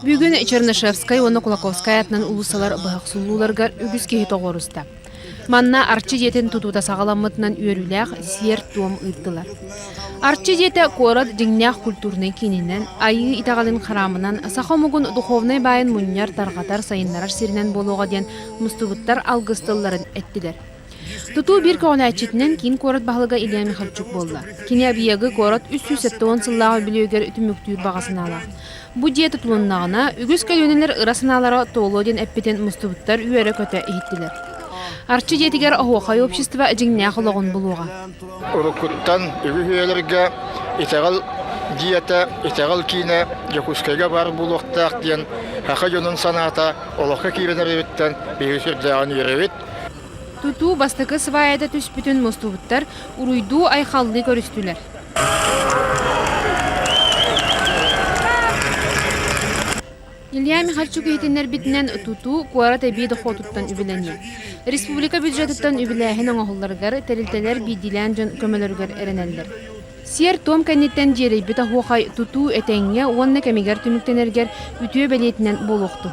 Бүгүн Чернышевскай уонна Кулаковскай атынан уулуссалар быһахсуулууларыгар үгүс киһи тоҕуоруста. Манна Арчы дьиэтин тутуута саҕаламмытынан үөрүүлээх сиэр-туом ыыттылар. Арчы дьиэтэ куорат дьиҥнээх культурнай киининэн, айыы итэҕэлин хараамынан саха омугун духовнай баайын мунньар, тарҕатар, сайыннарар сиринэн буолуоҕа диэн мустубуттар алгыс тылларын эттилэр. Тутуу биир көҕүлээччитинэн киин куорат баһылыга Илья Михальчук буолла. Кини Абьягы куорат үс сүүс сэттэ уон сыллааҕы үбүлүөйүгэр түмүктүүр баҕа санаалаах. Бу дьиэ тутулуннаҕына, үгүс көлүөнэлэр ыра санаалара туолуо диэн эппитин мустубуттар үөрэ-көтө иһиттилэр. Арчы дьиэтигэр оһуохай общество дьиҥнээх олоҕун булуоҕа. Уруккуттан үгүһүйэлэргэ итэҕэл дьиэтэ, итэҕэл киинэ Дьокуускайга баар буолуохтаах диэн аха дьонун санаата олоххо киирэн эрэриттэн биһи сүрдээҕин үөрэбит. Тутуу бастакы сыбаайата түспүтүн мустубуттар уруйдуу-айхаллыы көрүстүлэр Илья Михальчук иһитиннэрбитинэн, тутуу куорат эбии дохуотуттан үбүлэниэ. Республика бюджетыттан үбүлээһин оҥоһулларыгар, тэрилтэлэр биирдиилээн дьон көмөлөрүгэр эрэнэллэр. Сиэр-туом кэнниттэн дьиэлэйбит оһуохай тутуу этэҥҥэ уонна кэмигэр түмүктэнэргэр үтүө бэлиэтинэн буолуохтун.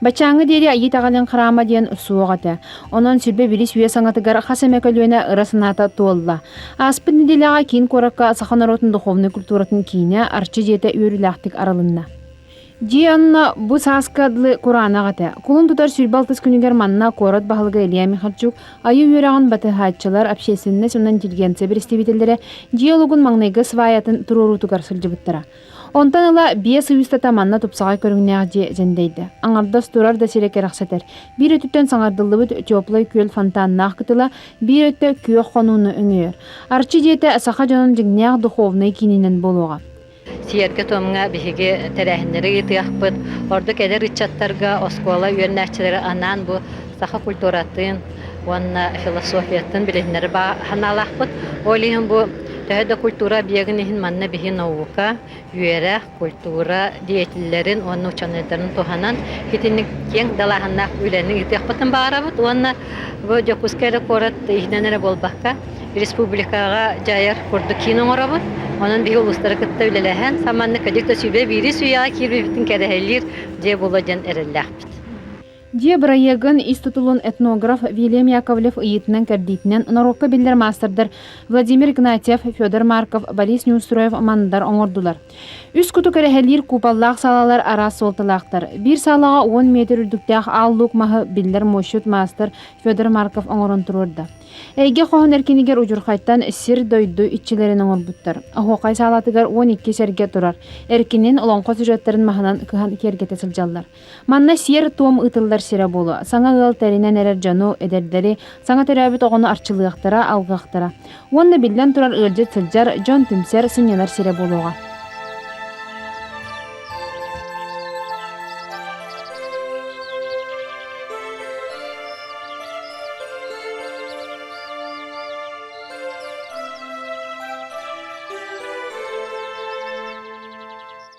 Баччааҥҥа диэри айыы даҕаныҥ храама диэн суох этэ. Онон сирбэ бирис үйэ саҥатыгар хас эмэ көлүөнэ ыра санаата туолла. Ааспыт нэдиэлэҕэ киин куоракка саха норуотун духовнай культуратын киинэ Арчы дьиэтэ үөрүүлээхтик арылынна. Дьиэ онно бу сааска дылы кураанах этэ. Кулун тутар сүүрбэ алтыс күнүгэр манна куорат баһылыга Илья Михальчук, айыы үөрэҕин батыһааччылар, общественность, онон интеллигенция бэрэстэбиитэллэрэ дьиэ олугун маҥнайгы сваятын туруоруутугар сылдьыбыттара. Онтон ыла биэс ый устата манна тупсаҕай көрүҥнээх дьиэ дьэндэйдэ. Аҥардас турар да сирэ кэрэхсэтэр. Биир өттүттэн саҥардыллыбыт теплый күөл фонтаннаах кытыла, биир өттө күөх хонууну өҥөйөр. Арчы дьиэтэ саха дьонун дьиҥнээх духовнай киининэн буолуоҕа. Сиэргэ-туомҥа биһиги тэрээһиннэри ыытыахпыт. Ордук эдэр ыччаттарга оскуола үөннээччилэрэ анаан бу саха культуратын уонна философиятын билиһиннэри санаалаахпыт. Ол иһин бу төһө да культура объегын иһин манна биһи наука, үөрэх, культура деятеллэрин уонна ученыйдарын туһанан итинник киэҥ далааһыннаах үлэни ыытыахпытын баҕарабыт уонна бу Дьокуускай эрэ куорат иһинэн эрэ буолбакка республикаҕа дьайар курдук киин оҥоробут. Онон биһи улуустары кытта үлэлэһэн саманнык кадик да сүбэ биирис үйэҕэ киирбиппитин кэрэһэлиир дьиэ буолуо диэн эрэллээхпит. Дьиэ бырайыагын ис тутулун этнограф Вильям Яковлев ыйыытынан-кэрдиитинэн норуокка биллэр маастардар Владимир Игнатьев, Федор Марков, Борис Неустроев Мандар оҥордулар. Үс куту кэрэһэлиир куупаллаах саалалар араас суолталаахтар. Биир саалаҕа уон метр үрдүктээх аал луук маһы биллэр муосчут маастар Федор Марков оҥорон туруорда. Эйгэ хоһун эркинигэр удьурхайтан сир-дойду иччилэрин оҥорбуттар. Оһуохай саалатыгар 12 сэргэ турар. Эркинин олоҥхо сюжеттарын маһынан кыһан киэргэтэ сылдьаллар. Манна сиэр-туом ыытыллар сирэ буолуо. Саҥа ыал тэринэн эрэр дьону, эдэрдэри, саҥа төрөөбүт оҕону арчылыахтара, алҕыахтара. Уонна биллэн турар ыалдьыт сылдьар, дьон түмсэр, сынньанар сирэ буолуоҕа.